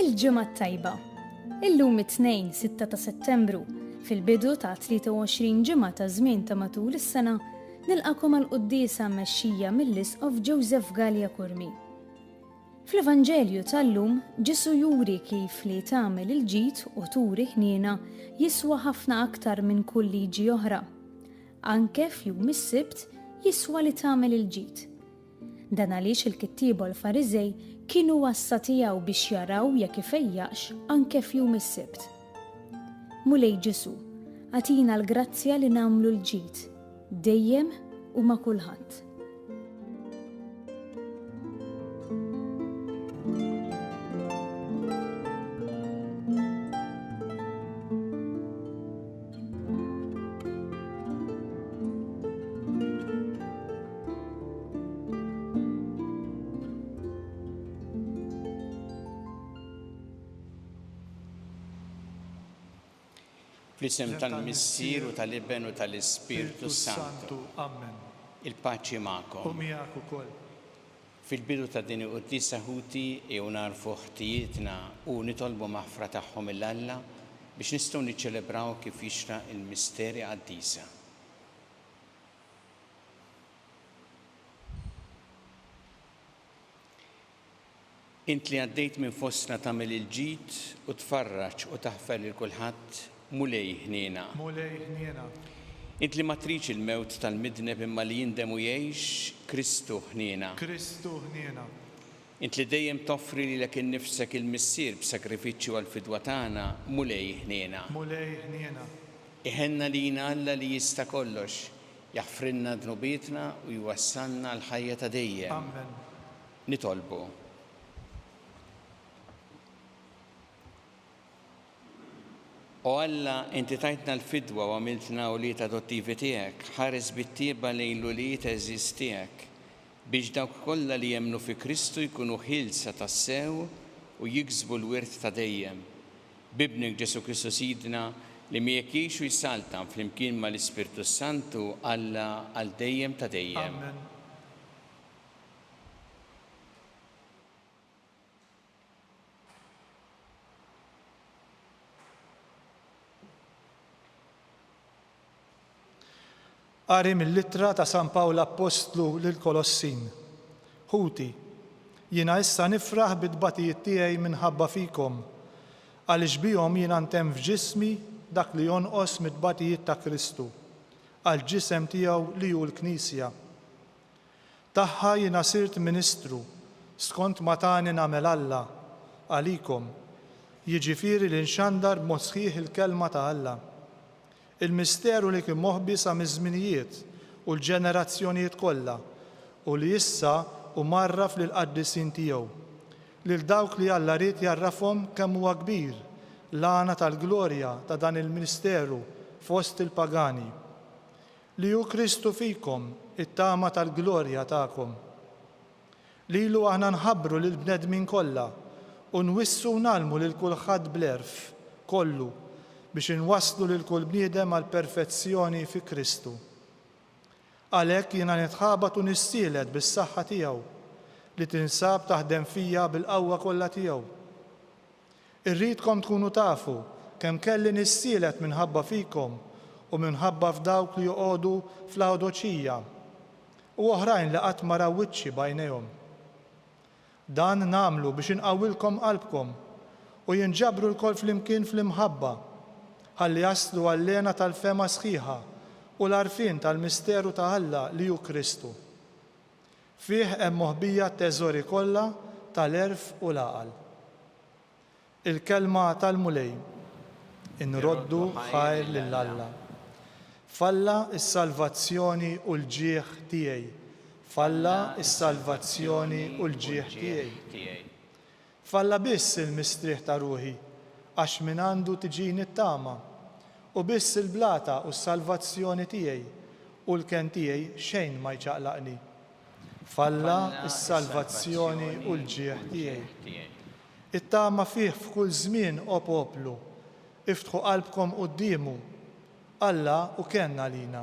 Il-ġimgħa tajba. Illum it-tnejn 6 ta' Settembru, fil-bidu ta' 23 ġimgħa ta' żmien ta' matul is-sena, nilqakom għal quddiesa mexxija mill-Isqof Joseph Gallia Kurmi. Fl-Evanġelju tal-lum, Ġesù juri kif li tagħmel il-ġid u turi ħniena jiswa ħafna aktar minn kull liġi oħra. Anke f'jum is-Sibt jiswa li tagħmel il-ġid. Dan għaliex il-kittieba u l-Fariżej kienu għassa tiegħu biex jaraw jekk ifejjaqx anke f'jum is-Sibt. Mulej Ġesù, agħtina l-grazzja li nagħmlu l-ġid, dejjem u ma' kulħadd. Fl-isem tal-Missier u tal-Iben u tal-Ispirtu s-Santu. Ammen. Il-paċi magħkom. U miegħek ukoll. Fil-bidu ta' din il-Quddiesa ħuti ejjew nagħrfu ħtijietna u nitolbu maħfra tagħhom mill Alla biex nistgħu niċċelebraw kif jixraq il-misteri qaddisa. Int li għaddejt minn fostna tagħmel il-ġid u tfarraġ u taħfer lil kulħadd, Mulej ħniena. Mulej ħniena. Int li ma tridx il-mewt tal-midneb imma li jindem u jgħix, Kristu ħniena. Kristu ħniena. Int li dejjem toffri lilek innifsek il-Missier b'sagrifiċċju għall-fidwa tagħna, Mulej ħniena. Mulej ħniena. Iħenna lina Alla li jista' kollox, jaħfrilna dnubietna u jwassalna għall-ħajja ta' dejjem. Amen. Nitolbu O Alla, inti tajtna l-fidwa u għamiltna ulied adottivi tiegħek, ħares bit-tjieba lejn l-ulied għeżież tiegħek, biex dawk kollha li jemmnu fi Kristu jkunu ħielsa tassew u jiksbu l-wirt ta' dejjem. B'Ibnek Ġesù Kristu Sidna, li miegħek jgħix u jsaltan flimkien mal-Ispirtu s-Santu, Alla għal dejjem ta' dejjem. Amen. Qari mill-Ittra ta' San Pawl Appostlu lill-Kolossin Ħuti, jiena issa nifraħ bit-tbatijiet tiegħi minħabba fikom, għaliex bihom jiena ntemm f'ġismi dak li jonqos mit-tbatijiet ta' Kristu, għall-ġisem tiegħu li hu l-Knisja. Tagħha jiena sirt ministru skont ma tani nagħmel Alla għalikom, jiġifieri li nxandar b'mod sħiħ il-kelma ta' Alla. Il-misteru li kien moħbi sa miż-żminijiet u l-ġenerazzjonijiet kollha u li issa hu mgħarraf lill-qaddisin tiegħu, lil dawk li Alla ried jgħarrafhom kemm huwa kbir l-għana tal-glorja ta' dan il-misteru fost il-pagani. Li hu Kristu fikom, it-tama tal-glorja tagħkom. Lilu aħna nħabbru lill-bnedmin kollha u nwissu u ngħallmu lil kulħadd bl-għerf kollu biex inwasslu lil kull bniedem għall-perfezzjoni fi Kristu. Għalhekk jiena nitħabat u nissielet bis-saħħa tiegħu, li tinsab taħdem fija bil-qawwa kollha tiegħu. Irridkom tkunu tafu kemm kelli nissielet minħabba fikom u minħabba f'dawk li joqogħdu f'Lawdoċija, u oħrajn li qatt ma raw wiċċi b'għajnejhom. Dan nagħmlu biex inqawwilkom qalbkom u jinġabru lkoll flimkien fl-imħabba, ħalli jaslu għall-hena tal-fehma sħiħa u l-għarfien tal-misteru ta' Alla li hu Kristu. Fih hemm moħbija t-teżori kollha tal-għerf u l-għaqal. Il-Kelma tal-Mulej. Inroddu ħajr lil Alla. F'Alla s-salvazzjoni u l-ġieħ tiegħi. F'Alla s-salvazzjoni u l-ġieħ tiegħi. F'Alla biss il-mistrieħ ta' ruħi, għax mingħandu tiġini t-tama, u biss il-blata u s-salvazzjoni tiegħi, u l-kenn tiegħi xejn ma jċaqlaqni. F'Alla s-salvazzjoni u l-ġieħ tiegħi. It-tama fih f'kull żmien, o poplu. Iftħu qalbkom quddiemu. Alla hu kenn għalina.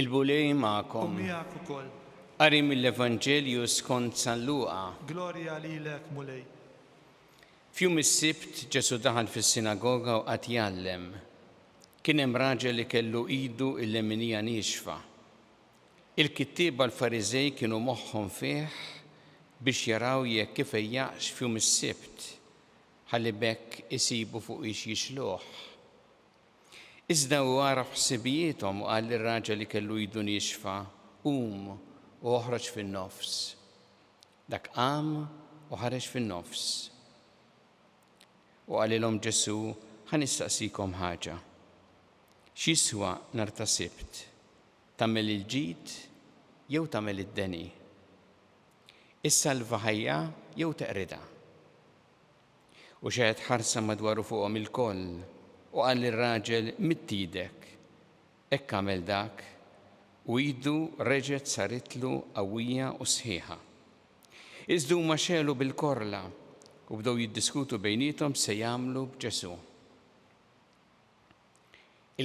Il-Bulli magħkom. U miegħek ukoll. Qari mill-Evanġelju skont San Luqa. Glorja lilek, Mulej. F'jum is-Sibt Ġesù daħal fis-sinagoga u qagħad jgħallem. Kien hemm raġel li kellu idu l-leminija niexfa. Il-kittieba l-Fariżej kienu moħħhom fih biex jaraw jekk ifejjaqx f'jum is-Sibt, ħalli b'hekk isibu fuq ix jixluh. Iżda hu għaraf ħsibijiethom u qal lir-raġel li kellu idu niexfa, Qum u oħroġ fin-nofs. Dak qam u ħareġ fin-nofs. U qalilhom Ġesù, Ħa nistaqsikom ħaġa. X'jiswa nhar ta' Sibt, tagħmel il-ġid jew tagħmel id-deni? Issalva ħajja jew teqridha? U xehed ħarsa madwaru fuqhom ilkoll, u qal lir-raġel, Midd idek. Hekk għamel dak, u idu reġgħet saritlu qawwija u sħiħa. Iżda huma xegħlu bil-korla, u bdew jiddiskutu bejniethom x'se jagħmlu b'Ġesù.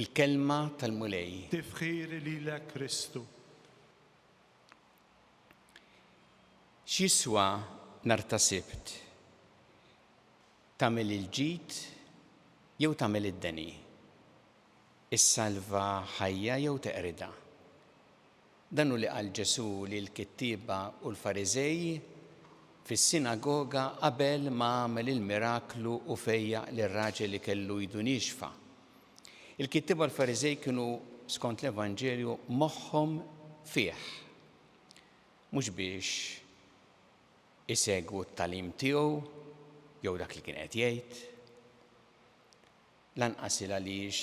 Il-Kelma tal-Mulej. Tifħir lilek Kristu. X'jiswa nhar ta' Sibt? Tagħmel il-ġid jew tagħmel id-deni? Issalva ħajja jew teqridha? Dan hu li qal Ġesù lill-kittieba u l-Fariżej fis-sinagoga qabel ma għamel il-miraklu u fejjaq lir-raġel li kellu idu niexfa. Il-kittieba u l-Fariżej kienu, skont l-Evanġelju, moħħhom fih, mhux biex isegwu t-tagħlim tiegħu jew dak li kien qed jgħid, lanqas 'il għaliex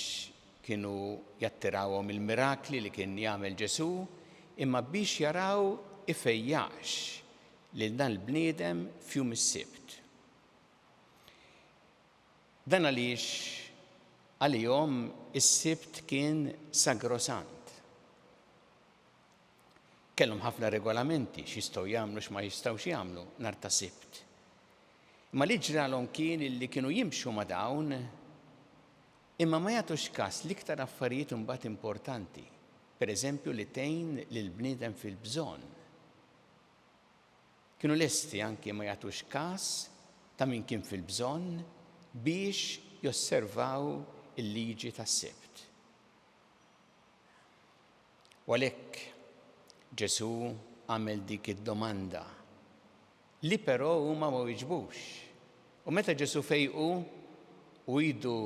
kienu jattirawhom il-mirakli li kien jagħmel Ġesù, imma biex jaraw ifejjaqx lil dan il-bniedem f'jum is-Sibt. Dan għaliex għalihom is-Sibt kien sagrosant. Kellhom ħafna regolamenti x'jistgħu jagħmlu x'ma jistgħux jagħmlu nhar ta' Sibt. Imma li ġralhom kien illi kienu jimxu ma' dawn imma ma jagħtux każ l-iktar affarijiet imbagħad importanti, pereżempju li tgħin lill-bniedem fil-bżonn. Kienu lesti anki ma jagħtux kas ta' min kien fil-bżonn biex josservaw il-liġi tas-Sibt. U għalhekk Ġesù għamel dik id-domanda li però huma ma wieġbux. U meta Ġesù fejqu u idu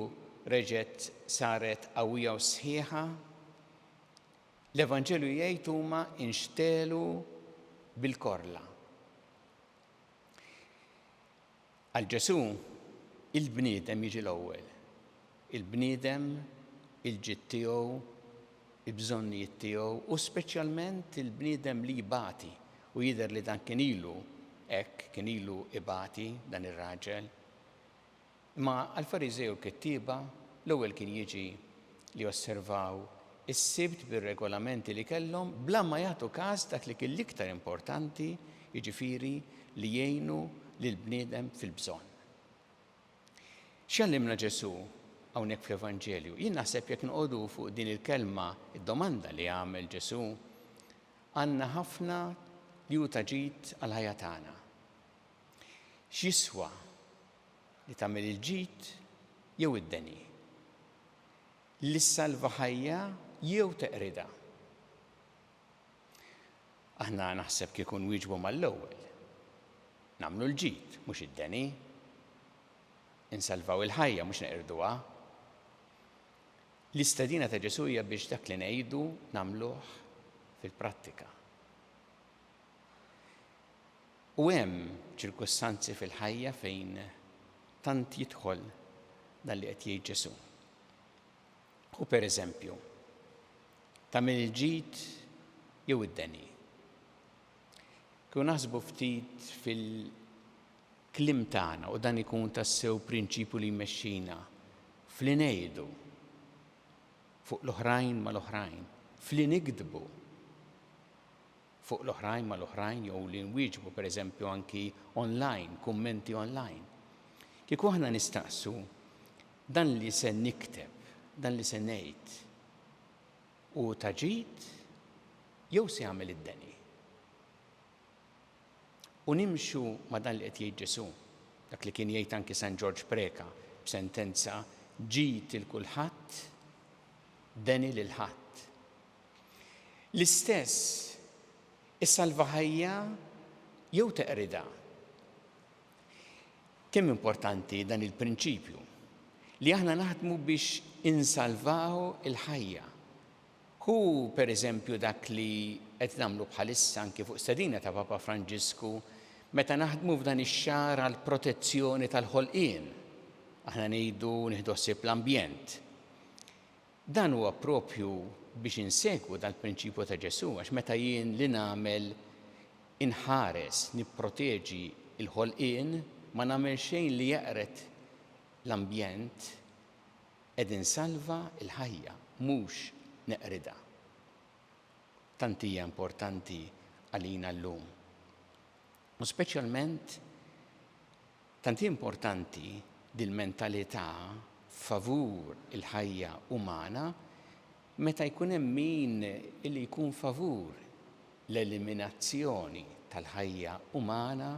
reġgħet saret qawwija u sħiħa, L-Evanġelju jgħid huma inxtegħlu bil-korla. Għal Ġesù il-bniedem jiġi l-ewwel. Il-bniedem, il-ġid tiegħu, il-bżonnijiet tiegħu u speċjalment il-bniedem li jbati u jidher li dan kien ilu hekk kien ilu ibati dan ir-raġel. Imma għall-Fariżej u l-kittieba, l-ewwel kien jiġi li josservaw is-Sibt bir-regolamenti li kellhom bla ma jagħtu kas dak li kien l-iktar importanti, jiġifieri li jgħinu lill-bniedem fil-bżonn. X'jgħallimna Ġesù hawnhekk fl-Evanġelju? Jien naħseb jekk noqogħdu fuq din il-kelma, id-domanda li għamel Ġesù għandna ħafna li hu ta' ġid għall-ħajja tagħna. X'jiswa li tagħmel il-ġid jew id-deni, li ssalva ħajja jew teqridha. Aħna naħseb kieku nwieġbu mal-ewwel. Nagħmlu l-ġid, mhux id-deni. Insalvaw il-ħajja, mhux neqirduha. L-istedina ta' Ġesù hija biex dak li ngħidu nagħmluh fil-prattika. U hemm ċirkustanzi fil-ħajja fejn tant jidħol dan li qed jgħid Ġesù. U per eżempju, tagħmel il-ġid jew id-deni. Kieku naħsbu ftit fil-klim tagħna u dan ikun tassew prinċipju li jmexxina fli ngħidu fuq l-oħrajn mal-oħrajn, fli nikdbu fuq l-oħrajn mal-oħrajn jew li nwieġbu pereżempju anki online, kummenti online. Kieku aħna nistaqsu, Dan li se nikteb, dan li se ngħid hu ta' ġid jew se jagħmel id-deni? U nimxu ma' dan li qed jgħid Ġesù, dak li kien jgħid anki San Ġorġ Preca b'sentenza ġid il kulħadd, deni lil ħadd. L-istess issalva ħajja jew teqridha. Kemm importanti dan il-prinċipju li aħna naħdmu biex insalvaw il-ħajja. Hu pereżempju dak li qed nagħmlu bħalissa anki fuq stedina ta' Papa Franġisku meta naħdmu f'dan ix-xahar għal protezzjoni tal-ħolqien. Aħna ngħidu nieħdu ħsieb l-ambjent. Dan huwa proprju biex insegwu dal-prinċipju ta' Ġesù, għax meta jien li nagħmel inħares, nipproteġi l-ħolqien, ma nagħmel xejn li jeqred l-ambjent, qed insalva l-ħajja, mhux neqridha. Tant hija importanti għalina llum. U speċjalment Tant hi importanti dil-mentalità favur il-ħajja umana meta jkun hemm min li jkun favur l-eliminazzjoni tal-ħajja umana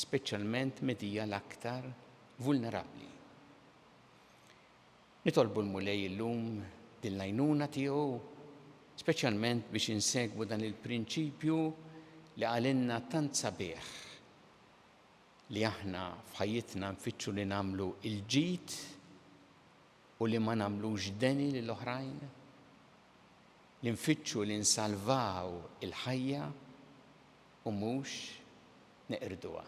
speċjalment mid hija l-aktar vulnerabbli. Nitolbu l-Mulej illum din l-għajnuna tiegħu speċjalment biex insegwu dan il-prinċipju li qalilna tant sabiħ, li aħna f'ħajjitna nfittxu li nagħmlu l-ġid u li ma nagħmlux deni lil oħrajn? Li nfittxu li nsalvaw il-ħajja u mhux neqirduha?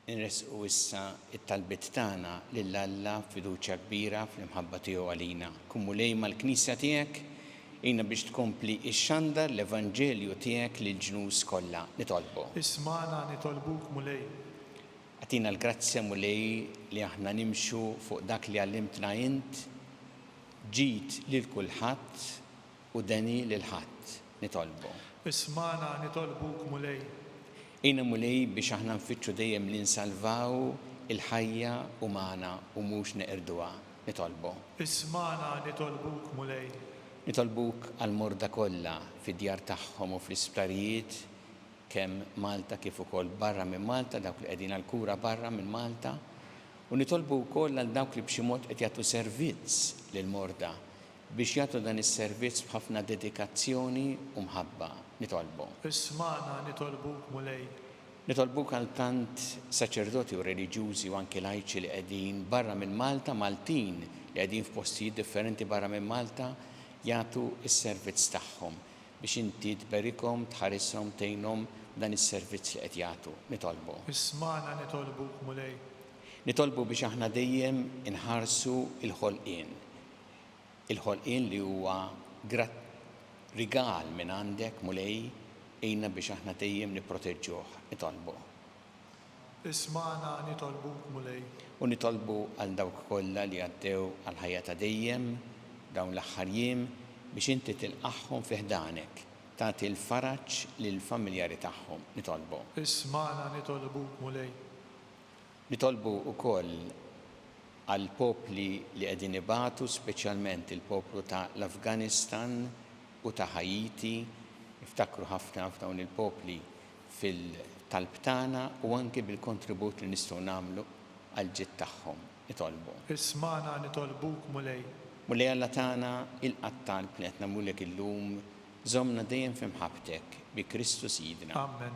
Inressqu issa t-talbiet tagħna lil Alla b'fiduċja kbira fl-imħabba tiegħu għalina. Kun Mulej mal-Knisja tiegħek, għinna biex tkompli xxandar l-evanġelju tiegħek lill-ġnus kollha. Nitolbu. Ismagħna nitolbuk Mulej. Agħtina l-grazzja Mulej li aħna nimxu fuq dak li għallimtna int, ġid lil kulħadd, U deni lil ħadd, nitolbu. Ismagħna, nitolbuk, Mulej. Għinna, Mulej, biex aħna nfittxu dejjem li nsalvaw il-ħajja umana u mhux neqirduha, nitolbu. Ismagħna, nitolbuk, Mulej. Nitolbuk għall-morda kollha fid-djar tagħhom u fl-isptarijiet kemm Malta kif ukoll barra minn Malta, dawk li qegħdin għall-kura barra minn Malta. U nitolbu wkoll għal dawk li b'xi mod qed jagħtu servizz lill-morda Biex jagħtu dan is-servizz b'ħafna dedikazzjoni u mħabba. Nitolbu. Ismagħna nitolbuk, Mulej. Nitolbuk għal tant saċerdoti u reliġjużi u anki lajċi li qegħdin barra minn Malta, Maltin li qegħdin f'postijiet differenti barra minn Malta jagħtu s-servizz tagħhom, biex Inti tberikhom, tħarishom, tgħinhom b'dan is-servizz li qed jagħtu. Nitolbu. Ismagħna nitolbuk, Mulej. Nitolbu biex aħna dejjem inħarsu l-ħolqien, Il-ħolqien li huwa grat rigal minn għandek, Mulej, għinna biex aħna dejjem nipproteġġuh. Nitolbu. Ismagħna nitolbuk, Mulej. U nitolbu għal dawk kollha li għaddew għal ħajja ta' dejjem dawn l-aħħar jiem biex inti tilqagħhom fi ħdanek, tagħti l-faraġ lill-familjari tagħhom. Nitolbu. Ismagħna nitolbuk, Mulej. Nitolbu wkoll għall-popli li qegħdin ibatu, speċjalment il-poplu ta' l-Afganistan u ta' Ħaiti, niftakru ħafna f'dawn il-popli fil-talb tagħna u anki bil-kontribut li nistgħu nagħmlu għall-ġid tagħhom. Nitolbu. Ismagħna nitolbuk, Mulej. Mulej Alla tagħna, ilqa' t-talb li qed nagħmlulek illum, żommna dejjem fi mħabbtek, bi Kristu Sidna. Amen.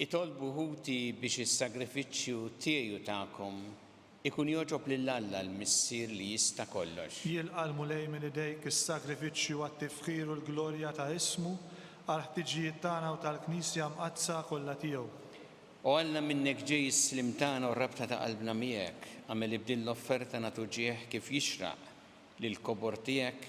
Itolbu ħuti biex is-sagrifiċċju tiegħi u tagħkom ikun jogħġob lil Alla l-Missier li jista' kollox. Jilqa' l-Mulej minn idejk is-sagrifiċċju għat-tifħir u l-glorja ta' ismu, għall-ħtiġijiet tagħna u tal-Knisja mqaddsa kollha tiegħu. O Alla, minnek ġej is-sliem tagħna u r-rabta ta' qalbna miegħek, agħmel li b'din l-offerta nagħtu ġieħ kif jixraq lill-kobor tiegħek,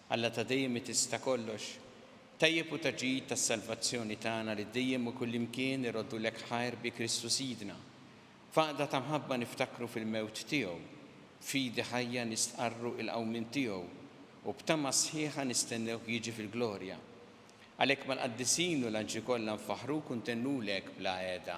Alla ta' dejjem li tista' kollox, tajjeb u ta' ġid tas-salvazzjoni tagħna li dejjem u kullimkien iroddulek ħajr bi Kristu Sidna. F'għaqda ta' mħabba niftakru fil-mewt tiegħu, b'fidi ħajja nistqarru il-qawmien tiegħu u b'tama sħiħa nistennewh jiġi fil-glorja. Għalhekk mal-qaddisin u l-anġli kollha nfaħruk u ntennulek bla għeda.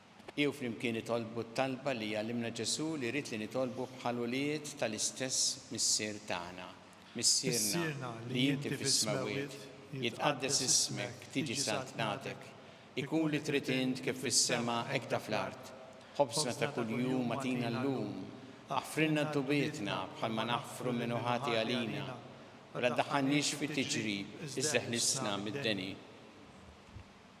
Bqiew flimkien itolbu t-talba li għallimna Ġesù li jrid li nitolbu bħal ulied tal-istess Missier tagħna, Missierna li inti fis-smewwiet, jitqaddes ismek, tiġi saltnatek, ikun li trid int kif fis-sema hekk ta' fl-art. Ħobżna ta' kuljum agħtina llum. Aħfrilna dnubietna bħalma naħfru min hu ħati għalina, u la ddaħħalniex fi tiġrib iżda ħlisna mid-deni.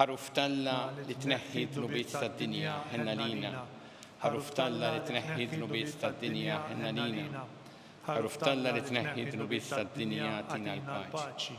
Ħaruf t'Alla li tneħħi d-dnubiet tad-dinja ħenn għalina Ħaruf t'Alla li tneħħi d-dnubiet tad-dinja ħenn għalina Ħaruf t'Alla li tneħħi d-dnubiet tad-dinja tina l-paċi.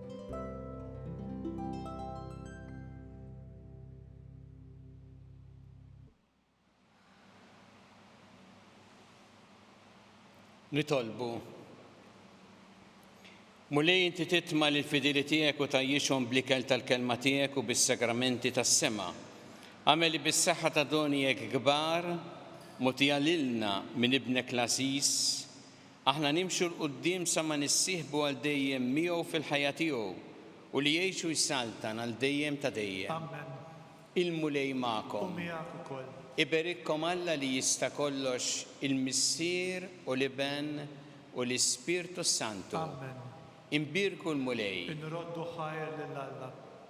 Nitolbu. Mulej inti titma li l-fidili tiegħek u tajjixhom blikel tal-kelma tiegħek u bis-sagramenti tas-sema. Għamel li bis-saħħa ta' donijek kbar mutija lilna minn ibnek l-għażiż Aħna nimxu 'l quddiem sa ma nissieħbu għal dejjem miegħu fil-ħajja tiegħu u li jgħix u jsaltan għal dejjem ta' dejjem. Il-Mulej magħkom. Iberikkom Alla li jista' kollox il-Missier u l-Iben u l-Ispirtu s-Santu. Inbierku l-Mulej.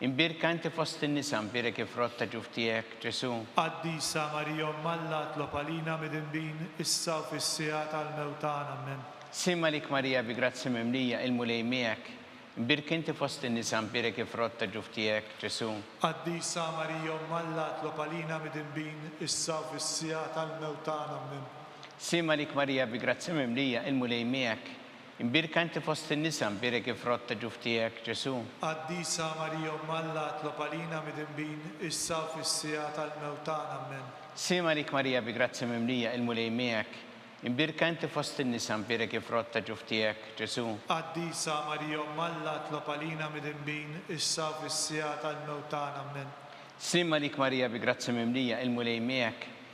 Imbierka inti fost in-nisa, mbierek il-frott ta' ġuf tiegħek, Ġesù. Qaddisa Marija Omm Alla, itlob għalina midinbin, issa u fis-siegħa tal-mewt tagħna. Ammen. Slim għalik Marija bi grazzja mimlija, il-Mulej miegħek, imbierka inti fost in-nisa, mbierek il-frott ta' ġuf tiegħek, Ġesù. Qaddisa Marija Omm Alla, itlob għalina midinbin, issa u fis-siegħa tal-mewt tagħna. Ammen. Slim għalik Marija bi grazzja mimlija, il-Mulej miegħek, Imbierka inti fost in-nisa, mbierek il-frott ta' ġuf tiegħek, Ġesù. Qaddisa Marija Omm Alla, itlob għalina midinbin, issa u fis-siegħa tal-mewt tagħna. Ammen. Slim għalik Marija bi grazzja mimlija, il-Mulej miegħek. Imbierka inti fost in-nisa, mbierek il-frott ta' ġuf tiegħek, Ġesù. Qaddisa Marija Omm Alla, itlob għalina midinbin, issa u fis-siegħa tal-mewt tagħna. Ammen. Slim għalik Marija bi grazzja mimlija, il-Mulej miegħek.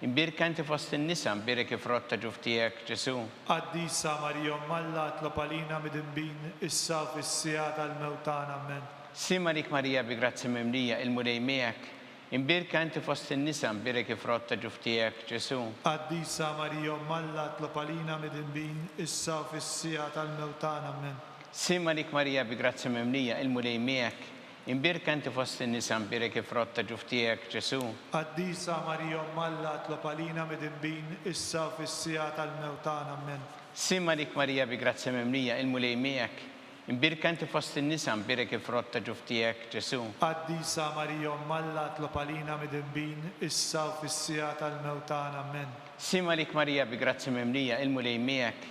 Imbierka inti fost in-nisa, mbierek il-frott ta' ġuf tiegħek, Ġesù. Qaddisa Marija Omm Alla, itlob għalina midinbin, issa u fis-siegħa tal-mewt tagħna. Ammen. Slim għalik Marija bi grazzja mimlija, il-Mulej miegħek, imbierka inti fost in-nisa, mbierek il-frott ta' ġuf tiegħek, Ġesù. Qaddisa Marija Omm Alla, itlob għalina midinbin, issa u fis-siegħa tal-mewt tagħna. Ammen. Slim għalik Marija bi grazzja mimlija, il-Mulej miegħek, Imbierka inti fost in-nisa, mbierek il-frott ta' ġuf tiegħek, Ġesù. Qaddisa Marija Omm Alla, tlob għalina midinbin, issa u fis-siegħa tal-mewt tagħna. Ammen. Slim għalik Marija bi grazzja mimlija, il-Mulej miegħek. Imbierka inti fost in-nisa, mbierek il-frott ta' ġuf tiegħek, Ġesù. Qaddisa Marija Omm Alla, tlob għalina midinbin, issa u fis-siegħa tal-mewt tagħna. Ammen. Slim għalik Marija bi grazzja mimlija, il-Mulej miegħek.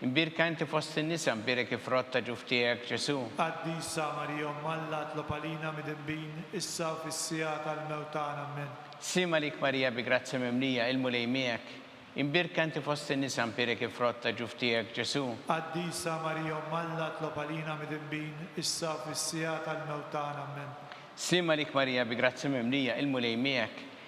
Imbierka inti fost in-nisa, mbierek il-frott ta' ġuf tiegħek, Ġesù. Qaddisa Marija Omm Alla, tlob għalina midinbin, issa u fis-siegħa tal-mewt tagħna. Ammen. Qsim għalik Marija bi grazzja mimlija, il-Mulej miegħek. Imbierka inti fost in-nisa, mbierek il-frott ta' ġuf tiegħek, Ġesù. Qaddisa Marija Omm Alla, tlob għalina midinbin, issa u fis-siegħa tal-mewt tagħna. Ammen. Qsim għalik Marija bi grazzja mimlija, il-Mulej miegħek.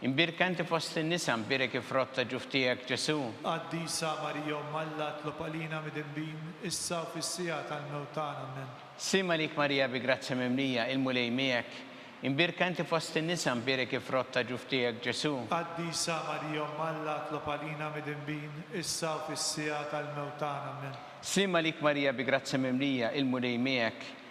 Imbierka inti fost in-nisa, mbierek il-frott ta' ġuf tiegħek, Ġesù. Qaddisa Marija Omm Alla, itlob għalina midinbin, issa u fis-siegħa tal-mewt tagħna. Ammen. Sliem għalik Marija bi grazzja mimlija, il-Mulej miegħek. Imbierka inti fost in-nisa, mbierek il-frott ta' ġuf tiegħek, Ġesù. Qaddisa Marija Omm Alla, itlob għalina midinbin, issa u fis-siegħa tal-mewt tagħna. Ammen. Sliem għalik Marija bi grazzja mimlija, il-Mulej miegħek.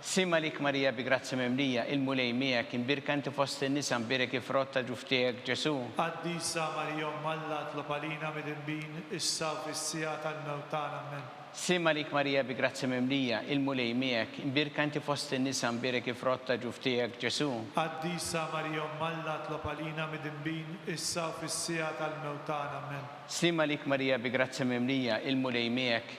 Ssim għalik Marija bi grazzja mimlija, il-Mulej miegħek, imbierka inti fost in-nisa, mbierek il-frott ta' ġuf tiegħek, Ġesù. Qaddisa Marija Omm Alla, itlob għalina midinbin, issa u fis-siegħa tal-mewt tagħna. Ammen. Ssim għalik Marija bi grazzja mimlija, il-Mulej miegħek, imbierka inti fost in-nisa, mbierek il-frott ta' ġuf tiegħek, Ġesù. Qaddisa Marija Omm Alla, itlob għalina midinbin, issa u fis-siegħa tal-mewt tagħna. Ammen. Ssim għalik Marija bi grazzja mimlija, il-Mulej miegħek,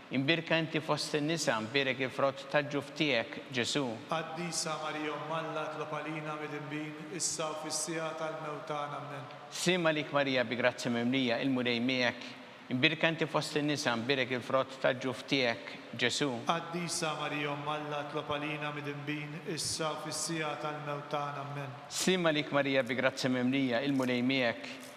Imbierka inti fost in-nisa, mbierek il-frott tal-ġuf tiegħek, Ġesù. Qaddisa Marija Omm Alla, itlob għalina midinbin, issa u fis-siegħa tal-mewt tagħna. Ammen. Sliem għalik Marija bi grazzja mimlija, il-Mulej miegħek, imbierka inti fost in-nisa, mbierek il-frott tal-ġuf tiegħek, Ġesù. Qaddisa Marija Omm Alla, itlob għalina midinbin, issa u fis-siegħa tal-mewt tagħna. Ammen. Sliem għalik Marija bi grazzja mimlija, il-Mulej miegħek,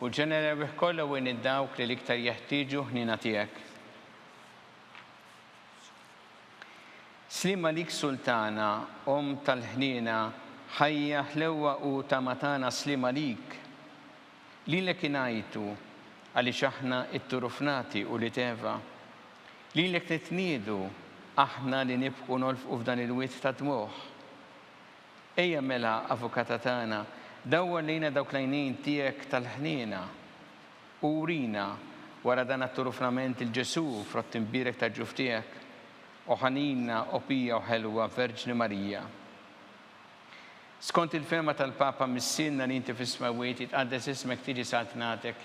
U ġenna rebbieħ kollha u għin dawk li l-iktar jeħtieġu ħniena tiegħek. Sliem għalik Sultana, Omm tal-ħniena, ħajja, ħlewwa u tama tagħna sliem għalik. Lilek ingħajtu, għaliex aħna t-turufnati u l-iteva. Lilek nitniedu, aħna li nibku nolfqu f'dan il-wied tad-dmugħ. Ejja mela, Avukata tagħna, dawwar lejna dawk l-għajnejn tiegħek tal-ħniena, u urina, wara dan għattur ufnament lil Ġesù, frott imbierek tal-ġuf tiegħek. O ħanina, o pija u ħelwa Verġni Marija! Skont il-fehma tal-Papa Missierna li inti fis-Smewwiet, jitqaddes ismek, tiġi saltnatek,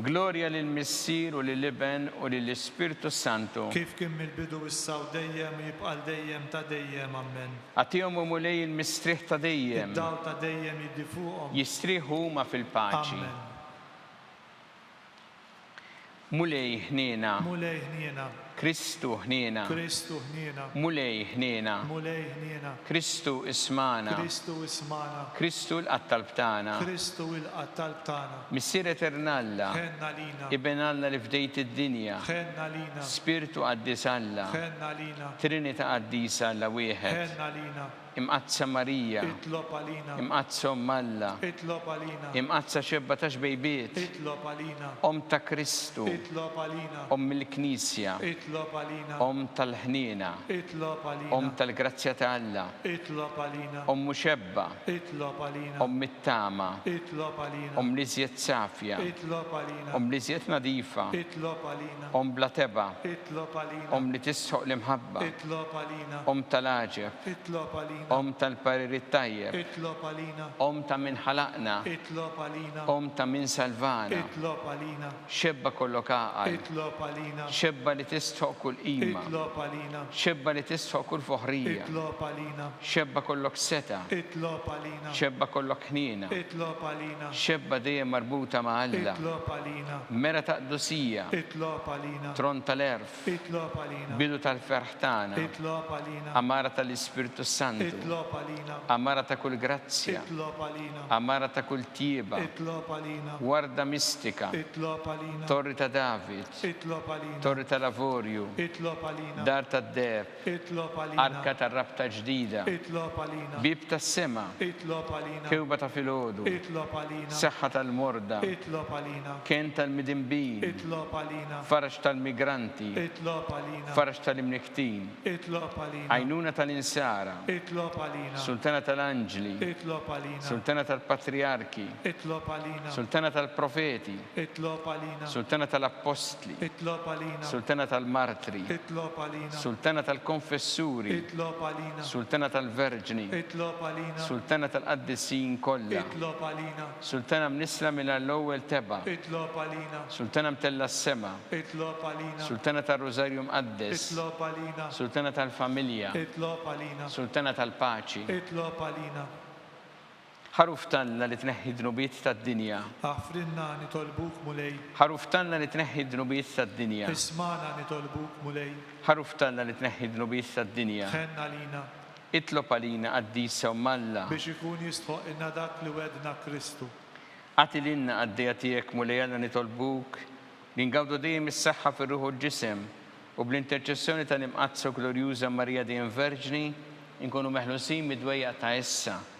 Glorja lill-Missier u lill-Iben u lill-Ispirtu s-Santu. Kif kien mill-bidu issa u dejjem u jibqa' għal dejjem ta' dejjem. Ammen. Agħtihom, O Mulej, il-mistrieħ ta' dejjem. Id-dawl ta' dejjem jiddi fuqhom. Jistrieħu huma fil-paċi. Ammen. Mulej ħniena. Mulej ħniena. Kristu ħniena. Kristu ħniena. Mulej ħniena. Mulej ħniena. Kristu ismagħna. Kristu ismagħna. Kristu ilqa' talb tagħna. Kristu ilqa' talb tagħna. Missier Etern Alla. Ħenn għalina. Iben Alla li fdejt id-dinja. Ħenn għalina. Spirtu Qaddis Alla. Ħenn għalina. Trinita' Qaddisa Alla wieħed. Ħenn għalina. Imqaddsa Marija. Itlob għalina. Imqaddsa Omm Alla. Itlob għalina. Imqaddsa Xebba ta' Xbejbiet. Itlob għalina. Omm ta' Kristu. Itlob għalina. Omm il-Knisja. Itlob għalina. Omm tal-ħniena. Itlob għalina. Omm tal-grazzja ta' Alla. Itlob għalina. Ommu Xebba. Itlob għalina. Omm it-tama. Itlob għalina. Omm l-iżjed safja. Itlob għalina. Omm l-iżjed nadifa. Itlob għalina. Omm bla tebgħa. Itlob għalina. Omm li tisħoq l-imħabba. Itlob għalina. Omm tal-għaġeb. Itlob għalina. Omm tal-parir it-tajjeb. Itlob għalina. Omm ta' min ħalaqna. Itlob għalina. Omm ta' min salvana. Itlob għalina. Xebba kollok għaqal. Itlob għalina. Xebba li tistħoq kull qima. Itlob għalina. Xebba li tistħoq kull foħrija. Itlob għalina. Xebba kollok setgħa. Itlob għalina. Xebba kollok ħniena. Itlob għalina. Xebba dejjem marbuta ma' Alla. Itlob għalina. Mera ta' qdusija. Itlob għalina. Tron tal-għerf. Itlob għalina. Bidu tal-ferħ tagħna. Itlob għalina. Għamara tal-Ispirtu s-Santu. Itlob għalina. Għamara ta' kull grazzja. Itlob għalina. Għamara ta' kull tjieba. Itlob għalina. Warda mistika. Itlob għalina. Torri ta' David. Itlob għalina. Torri tal-avorju. Itlob għalina. Dar tad-deheb. Arka tar-Rabta ġdida, Bieb tas-sema, Kewba ta' filgħodu, Saħħa tal-morda, Kenn tal-midinbin, Faraġ tal-migranti, Faraġ tal-imnikktin, Għajnuna tal-insara, Sultana tal-anġli, Sultana tal-patrijarki, Sultana tal-profeti, Itlob għalina. Sultana tal-Appostli. Itlob għalina. Sultana tal-Martri. Itlob għalina. Sultana tal-Konfessuri. Itlob għalina. Sultana tal-Verġni. Itlob għalina. Sultana tal-Qaddisin kollha. Itlob għalina. Sultana mnissla mingħajr l-ewwel tebgħa. Itlob għalina. Sultana mtellgħa s-sema. Itlob għalina. Sultana tar-Rużarju Mqaddes. Itlob għalina. Sultana tal-Familja. Itlob għalina. Sultana tal-Paċi. Itlob għalina. Ħaruf t'Alla li tneħħi d-dnubiet tad-dinja. Aħfrilna nitolbuk, Mulej. Ħaruf t'Alla li tneħħi d-dnubiet tad-dinja. Ismagħna nitolbuk, Mulej. Ħaruf t'Alla li tneħħi d-dnubiet tad-dinja. Tħenn għalina. Itlob għalina, Qaddisa Omm Alla. Biex ikun jistħoqqilna dak li wegħdna Kristu. Agħti lilna, Qaddejja tiegħek, Mulej Alla nitolbuk, li ngawdu dejjem is-saħħa fir-ruħ u l-ġisem, u bl-interċessjoni tal-Imqaddsa u Glorjuża Marija Dejjem Verġni, inkunu meħlusin mid-dwejjaq ta' issa.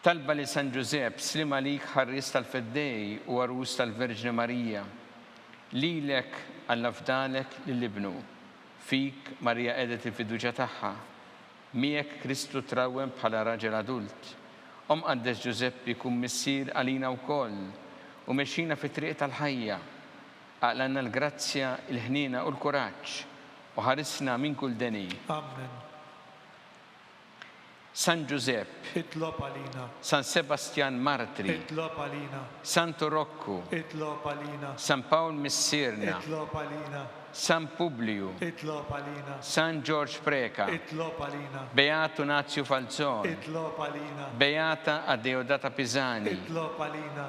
Talba lil San Ġużepp, Sliem għalik ħarries tal-Feddej u għarus tal-Verġni Marija. Lilek Alla fdalek lil Ibnu. Fik Marija qegħdet il-fiduċja tagħha. Miegħek Kristu trawwem bħala raġel adult. O Mqaddes Ġużeppi kun missier għalina wkoll u mexxina fit-triq tal-ħajja. Aqlanna l-grazzja, il-ħniena u l-kuraġġ u ħarisna minn kull deni. Ammen. San Ġużepp, itlob għalina. San Sebastjan Martri, itlob għalina. Santu Rokku, itlob għalina. San Pawl Missierna, itlob għalina. San Publiju, itlob għalina. San Ġorġ Preca, itlob għalina. Beatu Nazju Falzon, itlob għalina. Beata Adeodata Pisani, itlob għalina.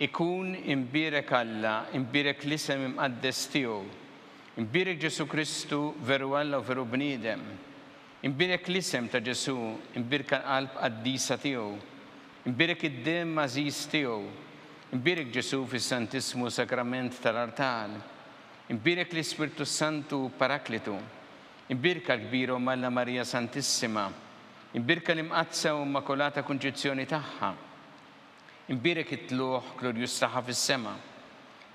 Ikun imbierek Alla, imbierek l-isem imqaddes tiegħu. Imbierek Ġesù Kristu, veru Alla u veru bniedem. Imbierek l-isem ta' Ġesù, imbierka l-qalb qaddisa tiegħu. Imbierek id-demm għażiż tiegħu. Imbierek Ġesù fis-Santissmu Sagrament tal-artal. Imbierek l-Ispirtu s-Santu Paraklitu. Imbierka l-kbira Omm Alla Marija Santissima. Imbierka l-Imqaddsa u Immakulata Kunċizzjoni tagħha. Imbierek it-tlugħ glorjuż tagħha fis-sema.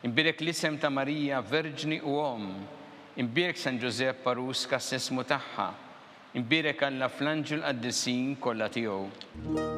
Imbierek l-isem ta' Marija, Verġni u Omm. Imbierek San Ġużepp għarus kastesimu tagħha. Imbierek Alla fl-anġli u l-qaddisin kollha tiegħu.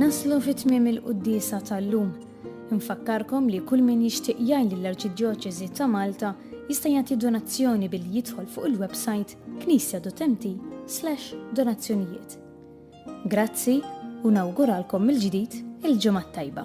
Naslu fi tmiem il-quddiesa tal-lum. Infakkarkom li kull min jixtieq jgħin lill-Arċidjoċesi ta' Malta jista' jagħti donazzjoni billi jidħol fuq il-websajt knisjadutenti/donazzjonijiet. Grazzi u nawguralkom mill-ġdid il-Ġimgħa t-Tajba.